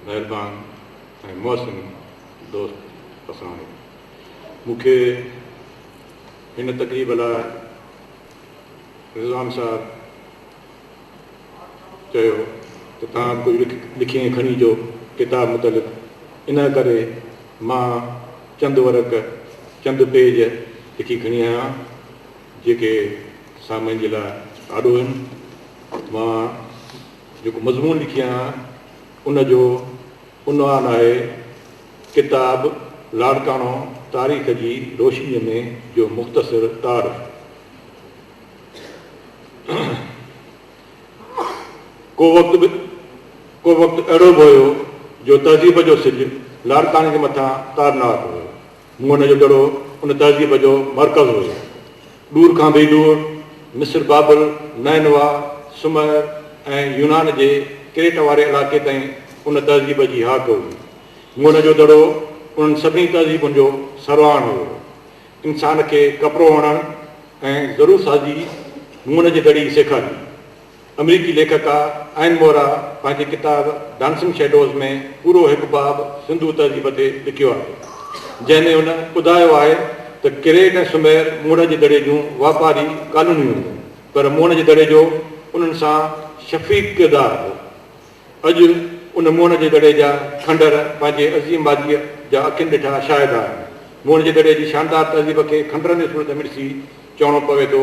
مهربان ۽ محسن دوست پسراڻي مون کي هن تقريب لاء رضوان صاحب چيو ته توهان ڪجهه لکي ۽ کڻي اچو ڪتاب متعلق ان ڪري مان چند ورق چند پيج لکي کڻي آيو آهيان جيڪي سامعين جي لاء آڏو آهن مان جيڪو مضمون لکي آهيان ان جو عنوان آهي ڪتاب لاڙڪاڻو تاريخ جي روشنيء ۾ جو مختصر تعارف. ڪو وقت به ڪو وقت اهڙو به هيو جو تهذيب جو سج لاڙڪاڻي جي مٿان تارناڪ هيو. مون ان جو دڙو ان تهذيب جو مرڪز هيو. ڏور کان به ڏور، مصر، بابل، نينويٰ، سمئر ۽ يونان جي ڪريٽ واري علائقي تائين ان تهذيب جي هاڪ هئي. مون جو دڙو انهن سڀني تهذيبن جو سرواڻ هيو. انسان کي ڪپرو وڻڻ ۽ زرو سازي مون جي دڙي سيکاري. آمريڪي ليکڪا ائن مورا پنهنجي ڪتاب ڊانسنگ شيڊوز ۾ پورو هڪ باب سنڌو تهذيب تي لکيو آهي، جنهن ۾ هن ٻڌايو آهي ته ڪريٽ ۽ سمير موڻ جي دڙي جون واپاري ڪالونيون هيون، پر موڻ جي دڙي جو انهن سان شفيق ڪردار هو. اڄ ان موڻ جي دڙي جا کنڊر پنهنجي عظيم ماضيء جا اکين ڏٺا شاهد آهن. موڻ جي دڙي جي شاندار تهذيب کي کنڊرن جي صورت ۾ ڏسي چوڻو پوي ٿو،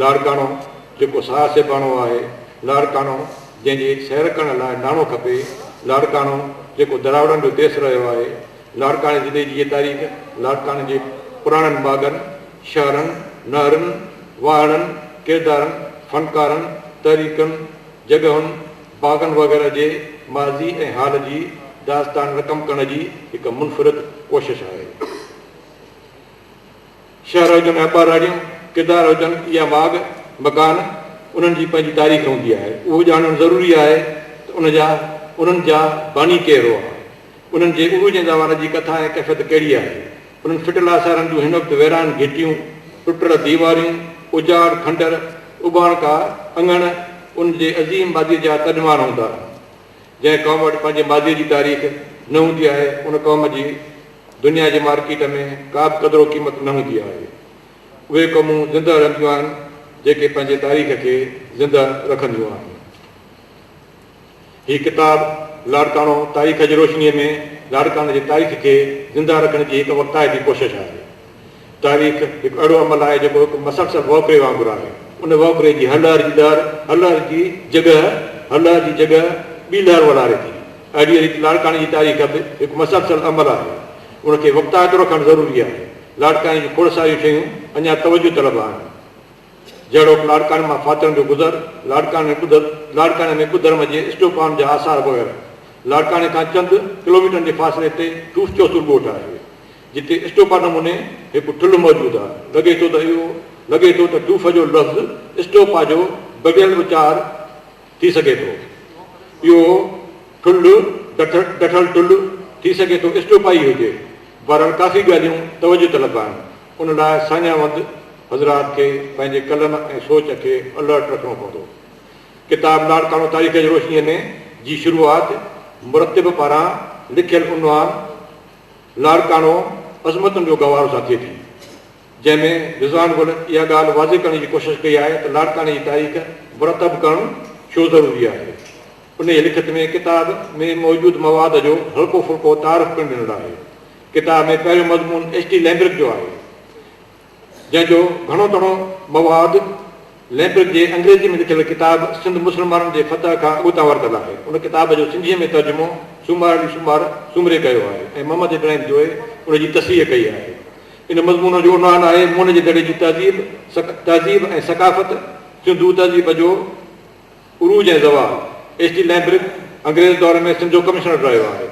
لاڙڪاڻو جيڪو ساهه سيباڻو آهي، لاڙڪاڻو جنهن جي سير ڪرڻ لاء ناڻو کپي، لاڙڪاڻو جيڪو دراوڙن جو ديس رهيو آهي، لاڙڪاڻي ضلعي جي هيء تاريخ لاڙڪاڻي جي پراڻن باغن، شهرن، نهرن، واهڙن، ڪردارن، فنڪارن، تحريڪن، جڳهن، باغن وغيره جي ماضي ۽ حال جي داستان رقم ڪرڻ جي هڪ منفرد ڪوشش آهي. شهر هجن يا ٻهراڙيون، ڪردار هجن يا ماڳ مڪان، انهن جي پنهنجي تاريخ هوندي آهي. اهو ڄاڻڻ ضروري آهي ته ان جا، انهن جا، باني ڪير هئا؟ انهن جي عروج ۽ زوال جي ڪٿا ۽ ڪيفيت ڪهڙي آهي؟ انهن ڦٽل آثارن جون هن وقت ويران گهٽيون، ٽٽل ديواريون، اجاڙ کنڊر، اٻاڻڪا اڱڻ، ان جي عظيم ماضيء جا ترجمان هوندا. جنهن قوم وٽ پنهنجي ماضيء جي تاريخ نه هوندي آهي، ان قوم جي دنيا جي مارڪيٽ ۾ ڪا به قدر و قيمت نه هوندي آهي. اهي قومون زنده رهنديون آهن، جيڪي پنهنجي تاريخ کي زنده رکنديون آهن. هي ڪتاب لاڙڪاڻو تاريخ جي روشنيء ۾ لاڙڪاڻي جي تاريخ کي زنده رکڻ جي هڪ وقتائتي ڪوشش آهي. تاريخ هڪ اهڙو عمل آهي جيڪو هڪ مسلسل وهڪري وانگر آهي. ان وهڪري جي هر لهر جي ڏار، هر لهر جي جڳهه، هر لهر جي جڳهه ٻي لهر وڏاري ٿي. اهڙيء ريت لاڙڪاڻي جي تاريخ به هڪ مسلسل عمل آهي. ان کي وقتائتو رکڻ ضروري آهي. لاڙڪاڻي جون کوڙ ساريون شيون اڃا توجهه طلب آهن. جهڙوڪ لاڙڪاڻي مان ڦاترن جو گذر، لاڙڪاڻي ۾ ٻڌ، لاڙڪاڻي ۾ ٻڌرم جي اسٽوپائن جا آثار وغيره. لاڙڪاڻي کان چند ڪلوميٽرن جي فاصلي تي ٺوس چوسور ڳوٺ آهي. جتي اسٽوپا نموني هڪ ٺلهه موجود آهي، لڳي ٿو ته اهو لڳي ٿو ته ڊوف جو لفظ اسٽوپا جو دٻيل اچار ٿي سگهي ٿو. اهو ٺلهه ڊٺ ڊٺل ٺلهه ٿي سگهي ٿو اسٽوپا ئي هجي. بهرحال ڪافي ڳالهيون توجه طلب آهن، ان لاء ساڃاهوند حضرات کي پنهنجي قلم ۽ سوچ کي الرٽ رکڻو پوندو. ڪتاب لاڙڪاڻو تاريخ جي روشنيء ۾ جي شروعات مرتب پاران لکيل عنوان، لاڙڪاڻو عظمتن جو گهوارو ساٿي ٿي، جنهن ۾ رضوان گل اها ڳالهه واضح ڪرڻ جي ڪوشش ڪئي آهي ته لاڙڪاڻي جي تاريخ مرتب ڪرڻ ڇو ضروري آهي. انهيء لکت ۾ ڪتاب ۾ موجود مواد جو هلڪو ڦلڪو تعارف پڻ ڏنل آهي. ڪتاب ۾ پهريون مضمون ايڇ ٽي لئمبرڪ جو آهي. جنهن جو گهڻو تڻو مواد ليمبرڪ جي انگريزي ۾ لکيل ڪتاب سنڌ مسلمانن جي فتح کان اڳتان ورتل آهي. ان ڪتاب جو سنڌيء ۾ ترجمو سومار علي سومار سومري ڪيو آهي ۽ محمد ابراهيم جويي ان جي تصحيح ڪئي آهي. ان مضمون جو عنوان آهي مون جي دڙي جي تهذيب، تهذيب ۽ ثقافت، سنڌو تهذيب جو عروج ۽ زوال، ايس ٽي لئمبرڪ انگريز دور ۾ سنڌ جو ڪمشنر رهيو آهي.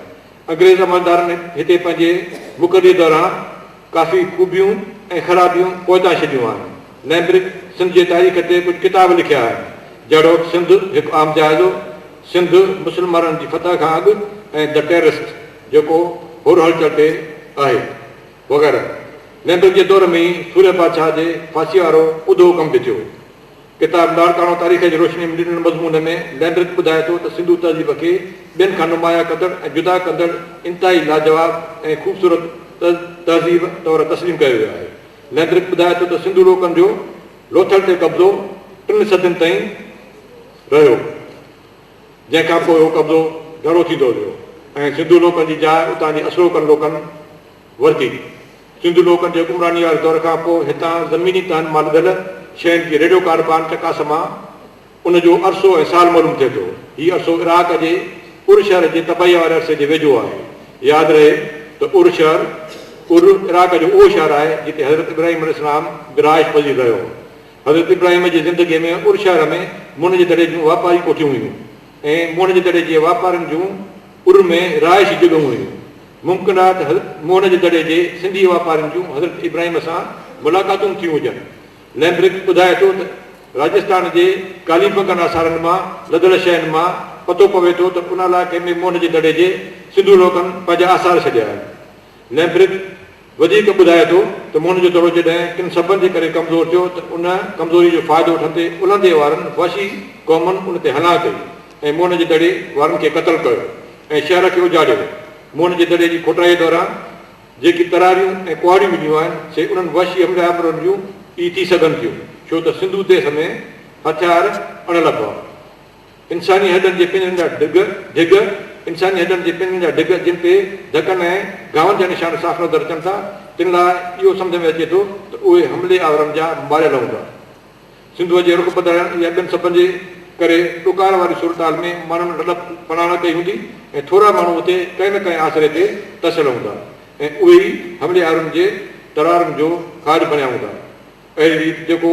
انگريز عملدارن هتي پنهنجي مقرريء دوران ڪافي خوبيون ۽ خرابيون پوئتان ڇڏيون آهن. لئمبرڪ سنڌ جي تاريخ تي ڪجهه ڪتاب لکيا آهن، جهڙوڪ سنڌ، هڪ عام جائزو، سنڌ، مسلمانن جي فتح کان اڳ ۽ The Terrorist، جيڪو هور هلچل تي آهي، وغيره. لئمبرڪ جي دور ۾ ئي سورهيه بادشاهه جي ڦاسيء وارو اڌو حڪم به ٿيو. ڪتاب لاڙڪاڻو تاريخ جي روشنيء ۾ ڏنل مضمون ۾ لينڊرڪ ٻڌائي ٿو ته سنڌو تهذيب کي ٻين کان نمايان ڪندڙ ۽ جدا ڪندڙ انتهائي لاجواب ۽ خوبصورت تهذيب طور تسليم ڪيو ويو آهي. لينڊرڪ ٻڌائي ٿو ته سنڌو لوڪن جو لوٿل تي قبضو ٽن صدين تائين رهيو جنهن کان پوء اهو قبضو گهرو ٿيندو ويو ۽ سنڌو لوڪن جي جاء اتان جي اصلوڪن لوڪن ورتي. سنڌو لوڪن جي حڪمرانيء واري دور کان پوء هتان زميني تهن مان لڌل شين جي ريڊيو ڪاربان چڪاس مان ان جو عرصو ۽ سال معلوم ٿئي ٿو. هي عرصو عراق جي ار شهر جي تباهيء واري عرصي جي ويجهو آهي. ياد رهي ته ار شهر، ار، عراق جو اهو شهر آهي جتي حضرت ابراهيم عليه السلام برعاش پذير رهيو هو. حضرت ابراهيم جي زندگيء ۾ ار شهر ۾ منهن جي دڙي جون واپاري ڪوٺيون هيون. ۽ موهن جو دڙي جي واپارين جون ار ۾ رهائشي جڳهون هيون. ممڪن آهي ته حضرت موهن جو دڙي جي سنڌي واپارين جون حضرت ابراهيم سان ملاقاتون به ٿيون هجن. لئمبرڪ ٻڌائي ٿو ته راجستان جي ڪاليبنگن آثارن مان لڌل شين مان پتو پوي ٿو ته ان علائقي ۾ موهن جو دڙي جي سنڌو لوڪن پنهنجا آثار ڇڏيا آهن. ليمبرڪ وڌيڪ ٻڌائي ٿو ته مون جو دڙو جڏهن ڪن سببن جي ڪري ڪمزور ٿيو ته ان ڪمزوري جو فائدو اٺندي الهندي وارن وحشي قومن ان تي حملا ڪئي ۽ مون جي دڙي وارن کي قتل ڪيو ۽ شهر کي اجاڙيو مون جي دڙي جي کوٽائيء دوران جيڪي تراريون ۽ ڪهاڙيون مليون آهن سي انهن وحشي حمله آورن جون ئي ٿي سگهن ٿيون ڇو ته سنڌو ديس ۾ هٿيار اڻ لڀا انساني هڏن جي پنجرن جا ڊگهه، ڍڳ، انساني هڏن جي پنجرن جا ڍڳ جن تي ڌڪن ۽ گهاون جا نشان صاف نظر اچن ٿا، تن لاء اهو سمجهه ۾ اچي ٿو ته اهي حملي آورن جا ماريل هوندا. سنڌوء جي رخ بدلائڻ يا ٻين سببن جي ڪري ڏڪار واري صورتحال ۾ ماڻهن لڏپ پناڻ ڪئي هوندي ۽ ٿورا ماڻهو اتي ڪنهن نه ڪنهن آسري تي ترسيل هوندا ۽ اهي ئي حملي آورن جي ترارن جو کاڄ بڻيا هوندا. اهڙي ريت جيڪو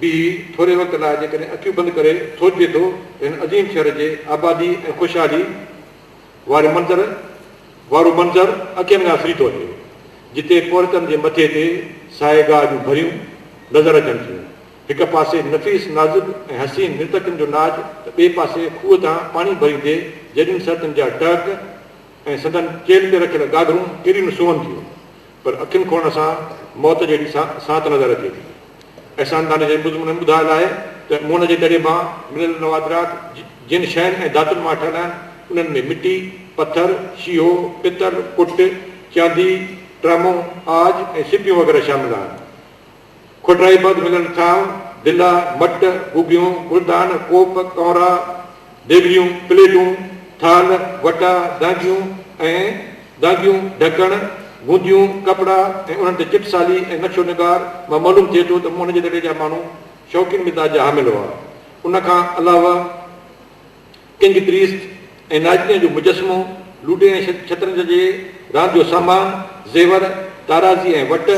به ٿوري وقت لاء جيڪڏهن اکيون بند ڪري سوچجي ٿو ته هن عظيم شهر جي آبادي ۽ خوشحالي واري منظر وارو منظر اکين کان سري ٿو اچي جتي پورهيتن جي مٿي تي ساهي گاهه جون ڀريون نظر اچن ٿيون هڪ پاسي نفيس نازڪ ۽ حسين نرتڪين جو ناچ ته ٻئي پاسي کوهه تان پاڻي ڀريندي جيڏين سرتين جا ٽهڪ ۽ سندن چيلهه تي رکيل گاگرون ڪيڏيون نه سونهن ٿيون پر اکين کون اسان موت جهڙي ساعت نظر اچي ٿي. احسان دانش جي بزم ن ٻڌايل آهي ته مون جي دڙي مان مليل نوادرات جن شين ۽ ڌاتن مان ٺهيل آهن، انهن ۾ مٽي، پٿر، شيهو، پتل، پٽ، چاندي، ٽرامون، عاج ۽ سپيون وغيره شامل آهن. کوٽرائي بعد ملن ٿانء، دلا، مٽ، ڪوٻيون، گلدان، ڪوپ، ڪئونرا، ديڳڙيون، پليٽون، ٿالهه، وٽا، دانگيون ۽ دانگيون، ڍڪڻ، گونديون، ڪپڙا ۽ انهن تي چٽسالي ۽ نقشو نگار مان معلوم ٿئي ٿو ته موهن جي دڙي جا ماڻهو شوقين مزاج جا حامل هئا. ان کان علاوه ڪنگ پريست ۽ ناجنيء جو مجسمو، لوڊي ۽ شطرنج جي راند جو سامان، زيور، تارازي ۽ وٽ،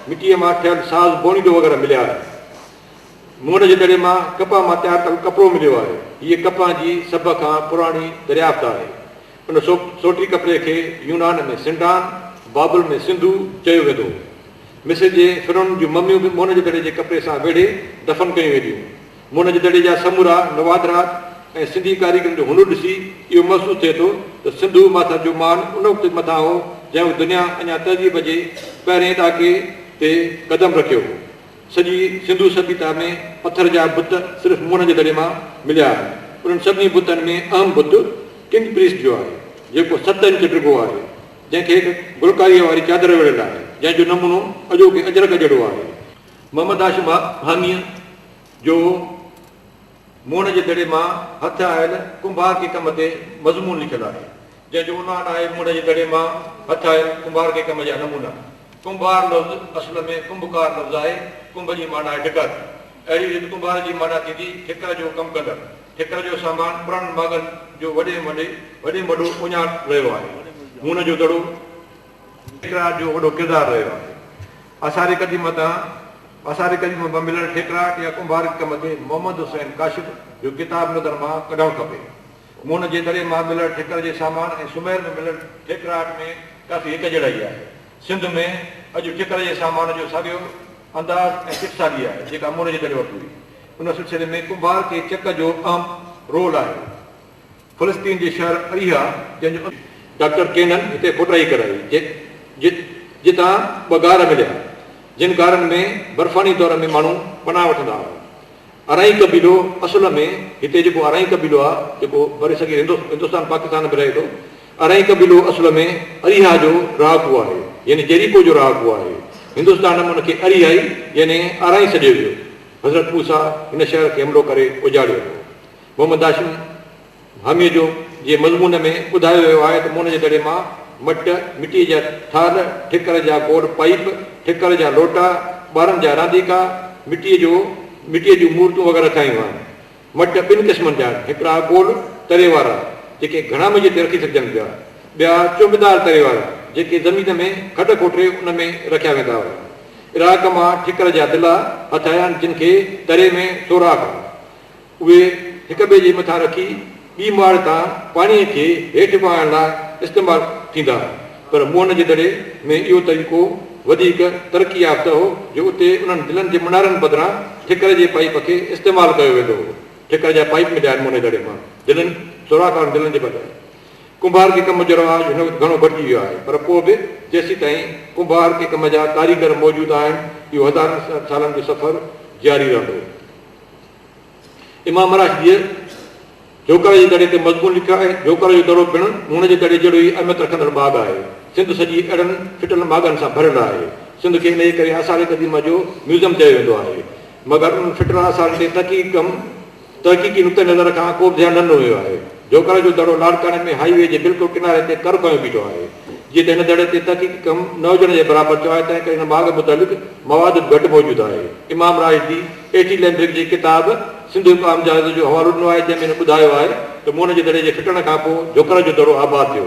مٽيء مان ٺهيل ساز بونيڊو وغيره مليا آهن. مونڊ جي دڙي مان ڪپهه مان تيار ڪيل ڪپڙو مليو آهي. هيء ڪپهه جي سڀ کان پراڻي دريافت آهي. ان سوٽري ڪپڙي کي يونان ۾ سنڊان، بابل ۾ سنڌو چيو ويندو هو. مصر جي فرعونن جون مميون به مونڊ جي دڙي جي ڪپڙي سان ويڙهي دفن ڪيون وينديون. منهج دڙي جا سمورا نوادرات ۽ سنڌي ڪاريگرن جو هنر ڏسي اهو محسوس ٿئي ٿو ته سنڌو ماٿر جو مان ان وقت به مٿان هو جنهن وقت دنيا اڃا تهذيب جي پهرئين ڏاڪي تي قدم رکيو هو. سڄي سنڌو سڀيتا ۾ پٿر جا بت صرف منهج دڙي مان مليا آهن. انهن سڀني بتن ۾ اهم بت ڪنگ پريسٽ جو آهي جيڪو ست انچ ڊگهو آهي جنهن کي گلڪاريء واري چادر ويڙهيل آهي جنهن جو نمونو اڄوڪي اجرڪ جهڙو آهي. محمد هاشم هانيء جو موڻ جي دڙي مان هٿ آيل ڪنڀار ڪي ڪم تي مضمون لکيل آهي، جنهن جو عنوان آهي موڻ جي دڙي مان هٿ آيل ڪنڀار ڪي ڪم جا نمونا. ڪنڀار لفظ اصل ۾ ڪنڀڪار لفظ آهي، ڪنڀ جي معنيٰ آهي ٺڪر. اهڙي ريت ڪنڀار جي معنيٰ ٿيندي ٺڪر جو ڪم ڪندڙ. ٺڪر جو سامان پراڻن ماڳن جو وڏي ۾ وڏي وڏي ۾ وڏو اهڃاڻ رهيو آهي. موڻ جو دڙو. ٺيڪراء جو وڏو ڪردار رهيو آهي. آثار قديمه تان آثار قديمه مان مليل ٺيڪراء يا ڪنڀارڪ ڪم تي محمد حسين ڪاشف جو ڪتاب نظر مان ڪڍڻ کپي. مون جي دڙي مان مليل ٺڪر جي سامان ۽ سمير ۾ مليل ٺيڪراء ۾ ڪافي هڪجهڙائي آهي. سنڌ ۾ اڄ ٺڪر جي سامان جو ساڳيو انداز ۽ سٽ ساڳي آهي جيڪا مون جي دڙي وٽ هئي. ان سلسلي ۾ ڪنڀارڪي چڪ جو اهم رول آهي. فلسطين جي شهر اريحا جنهن جو ڊاڪٽر ڪينن هتي کوٽائي ڪرائي جتان ٻه غار مليا جن غارن ۾ برفاني دور ۾ ماڻهو پناهه وٺندا هئا ارائين قبيلو اصل ۾ هتي جيڪو ارائين قبيلو آهي جيڪو برصغير هندستان پاڪستان ۾ رهي ٿو ارائين قبيلو اصل ۾ اريحا جو رهاڪو آهي يعني جيريڪو جو رهاڪو آهي هندستان ۾ ان کي اريحائي يعني ارائين سڏيو ويو حضرت موسيٰ هن شهر کي حملو ڪري اجاڙيو هو محمد هاشم ڀاميجو جي مضمون ۾ ٻڌايو ويو آهي ته مون جي دڙي مان مٽ، مٽيء جا ٿالهه، ٺڪر جا گوڙ پائيپ، ٺڪر جا لوٽا، ٻارن جا رانديڪا، مٽيء جو مٽيء جون مورتون وغيره ٺاهيون آهن. مٽ ٻن قسمن جا آهن، هڪڙا گول تري وارا، جيڪي گهڻا منجهه تي رکي سگهجن پيا، ٻيا چونبدار تري وارا، جيڪي زمين ۾ کڏ کوٽري ان ۾ رکيا ويندا هئا. عراق مان ٺڪر جا دلا هٿ آيا آهن، جن کي تري ۾ سوراخ هئا. اهي هڪ ٻئي جي مٿان رکي ٻي ماڙ تان پاڻيء کي هيٺ وهائڻ لاء استعمال ٿيندا هئا، پر موهن جي دڙي ۾ اهو طريقو وڌيڪ ترقي يافته هو جو اتي انهن دلن جي منارن بدران ٺڪر جي پائيپ کي استعمال ڪيو ويندو هو. ٺڪر جا پائيپ مليا آهن موهن جي دڙي مان دلن سوراخ وارن دلن جي بجاء. ڪنڀار کي ڪم جو رواج هن وقت گهڻو گهٽجي ويو آهي، پر پوء به جيسيتائين ڪنڀار کي ڪم جا ڪاريگر موجود آهن، اهو هزارن سالن جو سفر جاري رهندو. امام راشديء جوڪر جي دڙي تي مضمون لکيو آهي. جوڪر جو دڙو پڻ مون جي دڙي جهڙو ئي اهميت رکندڙ ماڳ آهي. سنڌ سڄي اهڙن ڦٽل ماڳن سان ڀريل آهي. سنڌ کي انهيء ڪري آثار قديمه جو ميوزم چيو ويندو آهي. مگر انهن ڦٽل آثارن تي تحقيق ڪم تحقيقي نقطه نظر کان ڪوبه ڌيان نه ڏنو ويو آهي. جوڪر جو دڙو لاڙڪاڻي ۾ هائي وي جي بلڪل ڪناري تي ڪر کنيو بيٺو آهي. جيئن ته هن دڙي تي تحقيقي ڪم نه هجڻ جي برابر ٿيو آهي تنهنڪري هن ماڳ متعلق مواد به گهٽ موجود آهي. امام راشدي. ايٽي لينڊرڪ جي ڪتاب سنڌ هڪ عام جهاز جو حوالو ڏنو آهي، جنهن ۾ هن ٻڌايو آهي ته مون جي دڙي جي ڦٽڻ کان پوء جهوڪر جو دڙو آباد ٿيو.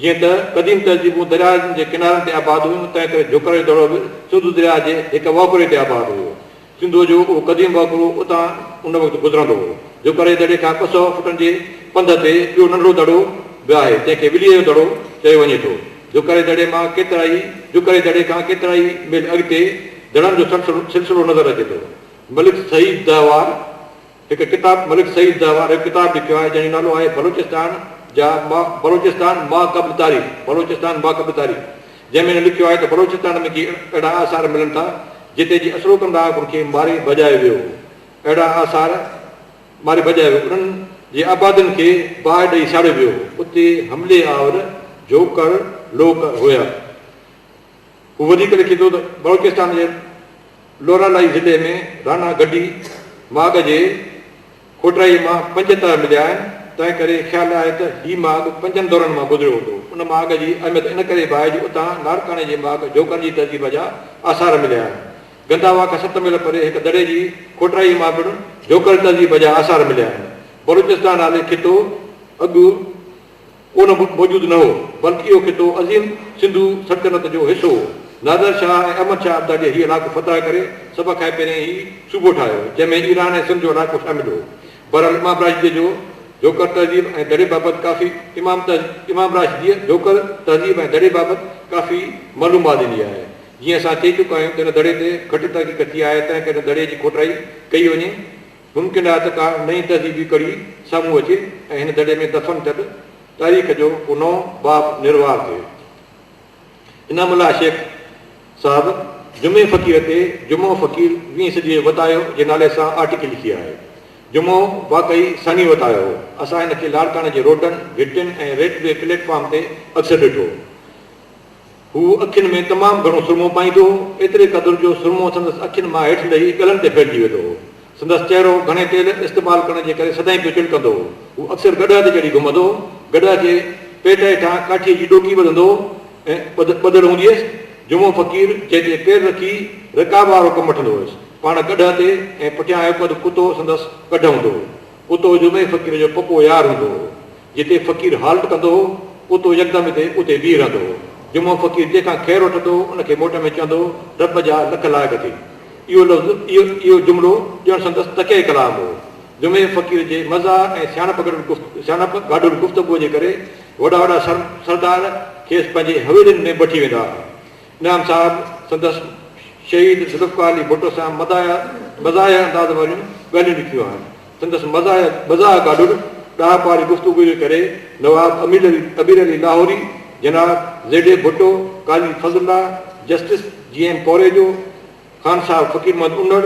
جيئن ته قديم تهذيبون درياهن جي ڪنارن تي آباد هيون، تنهن ڪري جهوڪر جو دڙو به سنڌو درياهه جي هڪ وهڪري تي آباد هيو. سنڌوء جو اهو قديم وهڪرو اتان ان وقت گذرندو هو. جهوڪر جي دڙي کان ٻه سؤ فٽن جي پنڌ تي ٻيو ننڍڙو دڙو به آهي، جنهن کي وليء جو دڙو چيو وڃي ٿو. جوکري دڙي مان ڪيترائي جوکري دڙي کان ڪيترائي ميل اڳتي دڙن جو سلسلو نظر اچي ٿو. ملڪ سعيد دهوار هڪ ڪتاب ملڪ سعيد دهوار هڪ ڪتاب لکيو آهي، جنهن جو نالو آهي بلوچستان جا ما بلوچستان ماقبل تاريخ بلوچستان ماقبل تاريخ جنهن ۾ هن لکيو آهي ته بلوچستان ۾ ڪي اهڙا آثار ملن ٿا جتي جي اصلوڪن ڏاهڪن کي ماري ڀڄايو ويو هو اهڙا آثار ماري ڀڄائي انهن جي آبادين کي باهه ڏئي ساڙيو ويو اتي حملي آور جوکڙ لوڪ هيا هو وڌيڪ لکي ٿو ته بلوچستان جي لورالايي ضلعي ۾ رانا گڊي ماڳ جي کوٽرائي مان پنج تهه مليا آهن تنهن ڪري خيال آهي ته هي ماڳ پنجن دورن مان گذريو هوندو ان ماڳ جي اهميت ان ڪري به آهي جو اتان لاڙڪاڻي جي ماڳ جوکڙ جي تهذيب جا آثار مليا آهن گنداوا کان ست ميل پري هڪ دڙي جي کوٽرائيء مان پڻ جوکل تهذيب جا آثار مليا آهن. بلوچستان نالي خطو اڳ ڪو نه موجود نه هو، بلڪ اهو خطو عظيم سنڌو سلطنت جو حصو هو. نادر شاهه ۽ احمد شاهه ابداليء هي علائقو فتح ڪري سڀ کان پهرين هي صوبو ٺاهيو، جنهن ۾ ايران ۽ سنڌ جو علائقو شامل هو. بهرحال امام راشديء جو جوکل تهذيب ۽ دڙي بابت ڪافي امام امام راشديء جوکل تهذيب ۽ دڙي بابت ڪافي معلومات ڏني آهي. جيئن اسان چئي چڪا آهيون ته ان دڙي تي گهٽ تحقيق ٿي آهي تنهنڪري ان دڙي جي کوٽائي ڪئي وڃي. ممڪن آهي ته ڪا نئين تهذيبي ڪڙي سامهون اچي ۽ هن دڙي ۾ دفن ٿيل تاريخ جو ڪو نئون باب نروار ٿئي. انعام الله شيخ صاحب جمعي فقير تي جمعو فقير ويهين صديء وتايو جي نالي سان آرٽيڪل لکي آهي. جمعو واقعي ثاني وتايو هو. اسان هن کي لاڙڪاڻي جي روڊن، گهٽين ۽ ريلوي پليٽ فارم تي اڪثر ڏٺو. هو اکين ۾ تمام گهڻو سرمو پائيندو هو، ايتري قدر جو سرمو سندس اکين مان هيٺ لهي ڳلن تي ڦهلجي ويندو هو. سندس چهرو گهڻي تيل استعمال ڪرڻ جي ڪري سدائين پيو چڻڪندو هو. هو اڪثر گڏهه تي چڙهي گهمندو هو. گڏهه جي پيٽ هيٺان ڪاٺيء جي ڏوڪي ٻڌندو هو ۽ ٻڌل هوندي هيس. جمعو فقير جنهن تي پير رکي رڪاب وارو ڪم وٺندو هيس. پاڻ گڏهه تي ۽ پٺيان هڪ اڌ ڪتو سندس گڏهه هوندو هو. اتو جمعي فقير جو پڪو يار هوندو هو. جتي فقير هالٽ ڪندو هو، اتو يڪدم اتي اتي بيهي رهندو هو. جمعو فقير جنهن کان خير وٺندو هو، ان کي موٽ ۾ چوندو هو، رب جا لک لائق ٿي. اهو لفظ، اهو اهو جملو ڄڻ سندس تڪيه ڪلام هو. جمعي فقير جي مزاح ۽ سياڻپ گڏول گفت سياڻپ گاڏول گفتگوء جي ڪري وڏا وڏا سر سردار کيس پنهنجي حويلين ۾ بٺي ويندا ها. نعام صاحب سندس شهيد ذوالفقار علي ڀٽو سان مداح مزاح انداز واريون ڳالهيون لکيون آهن. سندس مزاح مزاح گاڏڙ ڏاهپ واري گفتگو جي ڪري نواب امير علي ابير علي لاهوري، جناب Z A Bhutto, Qazi Fazal Allah, justice G M Korejo, Khan Sahib Faqir Muhammad Unar,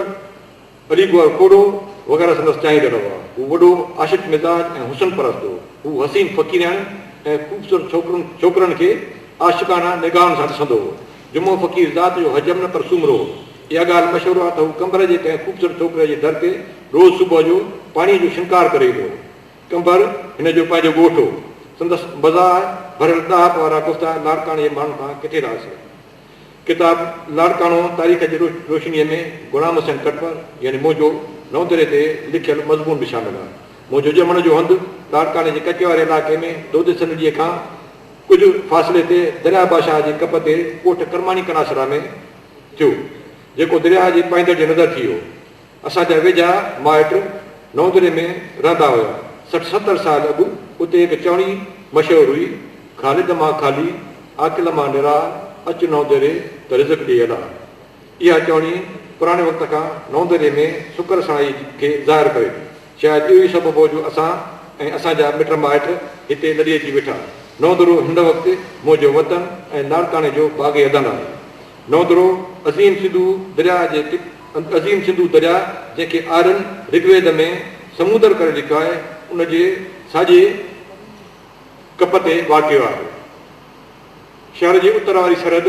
Ali Gohar کوڙو وغيره سندس چاهيندڙ هئا. هو وڏو عاشق مزاج ۽ حسن پرست هو. هو حسين فقيرياڻين ۽ خوبصورت ڇوڪرن ڇوڪرن کي عاشقانه نگاهن سان ڏسندو هو. جمعو فقير ذات جو حجم نه پر سومرو هو. اها ڳالهه مشهور آهي ته هو ڪنڀر جي ڪنهن خوبصورت ڇوڪريء جي در تي روز صبح جو پاڻيء جو شنگار ڪري ايندو هو. ڪنڀر هن جو پنهنجو ڳوٺ هو. سندس مزاح ڀريل ڏاهپ وارا گفتا لاڙڪاڻي جي ماڻهن کان ڪٿي ٿا اسرن. ڪتاب لاڙڪاڻو تاريخ جي روشنيء ۾ غلام حسين ڪٽمر يعني منهنجو نئون دري تي لکيل مضمون به شامل آهي. منهنجو ڄمڻ جو هنڌ لاڙڪاڻي جي ڪچي واري علائقي ۾ دودي سنهڙيء کان ڪجهه فاصلي تي درياهه باشاهه جي ڪپ تي ڳوٺ ڪرماڻي ڪناسرا ۾ ٿيو، جيڪو درياهه جي پائيندڙ جي نظر ٿي ويو. اسان جا ويجها مائٽ نوندري ۾ رهندا هيا. سٺ ستر سال اڳ اتي هڪ چوڻي مشهور هئي، خالد مان خالي، عاقل مان نراح، اچ نوندري ته رزق ڏي الاح. اها چوڻي پراڻي وقت کان نوندري ۾ سڪر سڻائي کي ظاهر ڪري ٿي. شايد اهو ئي سبب هو جو اسان ۽ اسان جا مٽ مائٽ هتي لڏي اچي ويٺا. نوندرو هن وقت منهنجو وطن ۽ لاڙڪاڻي جو باغ اعظم آهي. نوندرو عظيم سنڌو درياهه جي انت عظيم سنڌو درياء جنهن کي آرين رگ ويد ۾ سمودر ڪري لکيو آهي ان جي ساڄي ڪپ تي واقع آهي. شهر جي اتر واري سرحد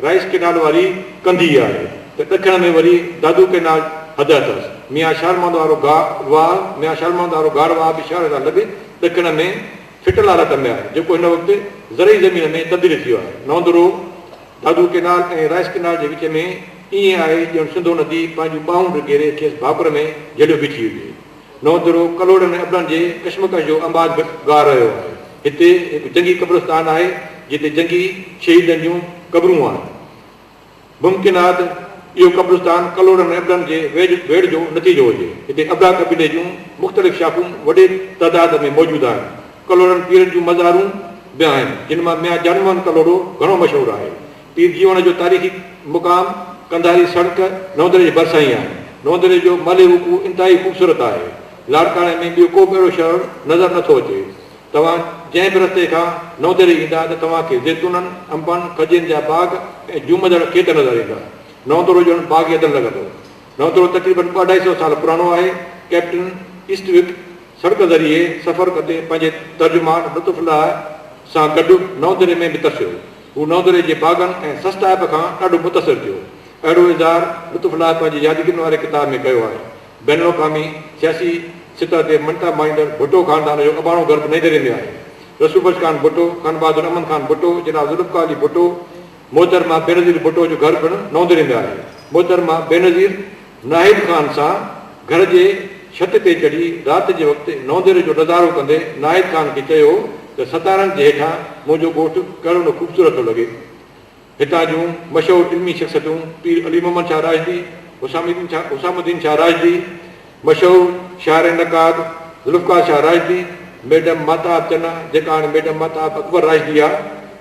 رائيس ڪينال واري ڪنڌي آهي ته ڏکڻ ۾ وري دادو ڪينال حد اٿس. ميان شالمند وارو گا واهه، ميان شالمند وارو گار واهه به شهر کان لڳ ڏکڻ ۾ ڦٽل حالت ۾ آهي جيڪو هن وقت زرعي زمين ۾ تبديل ٿي ويو آهي. Naundro, Dadu canal ۽ rice canal جي وچ ۾ ائين آهي ڄڻ سنڌو ندي پنهنجون ٻانهون به گهيري کيس ڀاڪر ۾ جهليو بيٺي هجي. نوترو ڪلهوڙن ۽ ابڙن جي ڪشمڪش جو آنباز به ڳاء رهيو آهي. هتي هڪ جنگي قبرستان آهي، جتي جنگي شهيدن جون قبرون آهن. ممڪن آهي ته اهو قبرستان ڪلهوڙن ۽ ابڙن جي ويڙهه جو نتيجو هجي. هتي ابڙا قبيلي جون مختلف شاخون وڏي تعداد ۾ موجود آهن. ڪلهوڙن پيرن جون مزارون به آهن، جن مان ميان جان موهن ڪلهوڙو گهڻو مشهور آهي. پير جيوڻ جو تاريخي مقام قنڌاري سڙڪ نوندري جي ڀرسان ئي آهي. نوندري جو مالهي وقوع انتهائي خوبصورت آهي. لاڙڪاڻي ۾ ٻيو ڪو به اهڙو شهر نظر نه ٿو اچي. توهان جنهن به رستي کان نوندري ايندا ته توهان کي زيتونن، انبن، کجين جا باغ ۽ جهومندڙ کيت نظر ايندا. نوندرو ڄڻ باغ ايڌن لڳندو. نوندرو تقريبن ٻه اڍائي سئو سال پراڻو آهي. ڪئپٽن ايسٽوڪ سڙڪ ذريعي سفر ڪندي پنهنجي ترجمان لطف الله سان گڏ نوندري ۾ به ترسيو. هو نوندري جي باغن ۽ سستائپ کان ڏاڍو متاثر ٿيو. اهڙو اظهار لطف الله پنهنجي يادگيرن واري ڪتاب ۾ ڪيو آهي. بين الاقوامي سياسي سطح تي مڃتا مائيندڙ ڀٽو خاندان جو اباڻو گهر به نئيندري ۾ آهي. رسول بخش خان ڀٽو، خان بهادر امن خان ڀٽو، جناب ذوالفقار علي ڀٽو، محترمه بينظير ڀٽو جو گهر پڻ نوندري ۾ آهي. محترمه بينظير ناهيد خان سان گهر جي ڇت تي چڙهي رات جي وقت نونديري جو نظارو ڪندي ناهيد خان کي چيو ته ستارن جي هيٺان منهنجو ڳوٺ ڪهڙو نه خوبصورت ٿو لڳي. هتان جون مشهور علمي شخصيتون پير علي محمد شاهه راشدي، حسام الدين شاهه، حسام الدين شاهه راشدي، مشهور شاعر ۽ نقاد ذوالفقار شاهه راشدي، ميڊم ماهتاب چنا جيڪا هاڻي ميڊم ماهتاب اڪبر راشدي آهي،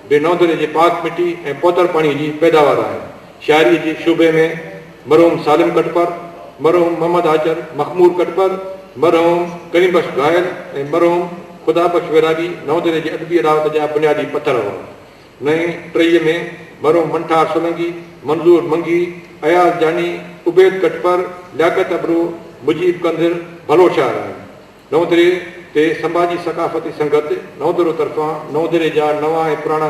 به نونديري جي پاڪ مٽي ۽ پوتر پاڻي جي پيداوار آهن. شاعريء جي شعبي ۾ مرحوم سالم ڪٽپر، مرحوم محمد آچر مخمور ڪٽپر، مرحوم ڪريم بخش گاهل ۽ مرحوم خدا بخش ويرابي نئون دري جي ادبي اڏاوت جا بنيادي پٿر هئا. نئين ٽهيء ۾ مرحوم منٺار سولنگي، منظور منگي، اياز جاني، عبيد ڪٽپر، لياقت ابڙو، مجيب ڪنڌر ڀلو شاعر آهن. نئون دري تي سنڀاجي ثقافتي سنگت نئون درو طرفان نئون دري جا نوان ۽ پراڻا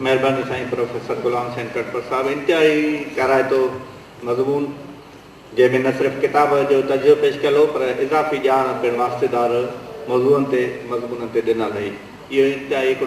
مهرباني سائين پروفيسر غلام حسين ٽڙپر صاحب انتهائي ڪارائتو مضمون جنهن ۾ نه صرف ڪتاب جو تجزيو پيش ڪيل هو پر اضافي ڄاڻ پڻ واسطيدار موضوعن تي مضمونن تي ڏنل هئي اهو انتهائي هڪڙو